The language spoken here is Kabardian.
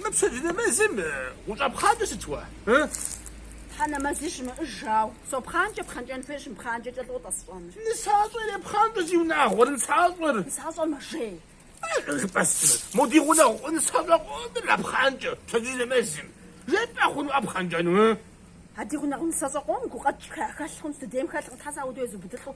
Мы пщэдджыжь нэмэзым ущӏэпхъанкӏэ сыт уэ? Тхьэ нэмэзи щымыӏыжау сопхъанкӏэ, пхъэнкӏэн хуейщ, сымыпхъанкӏэкӏэ лӏо тӏэ сщӏэныр. Нысащӏэр репхъанкӏэ зиунагъуэр, нысащӏэр. Нысащӏэр мэжей. Жыпӏэстмэ, мо ди гъунэгъу нысащӏэ къомыр мэпхъанкӏэ пщэдджыжь нэмэзым. Жепӏэ хъунуӏэ пхъэнкӏэну? А ди гъунэгъу нысащӏэ къом гукъэкӏхэ хэлъ хъунщ, дыдейм хэлъкъым, Тхьэ сэ аудыу езубыдылӏу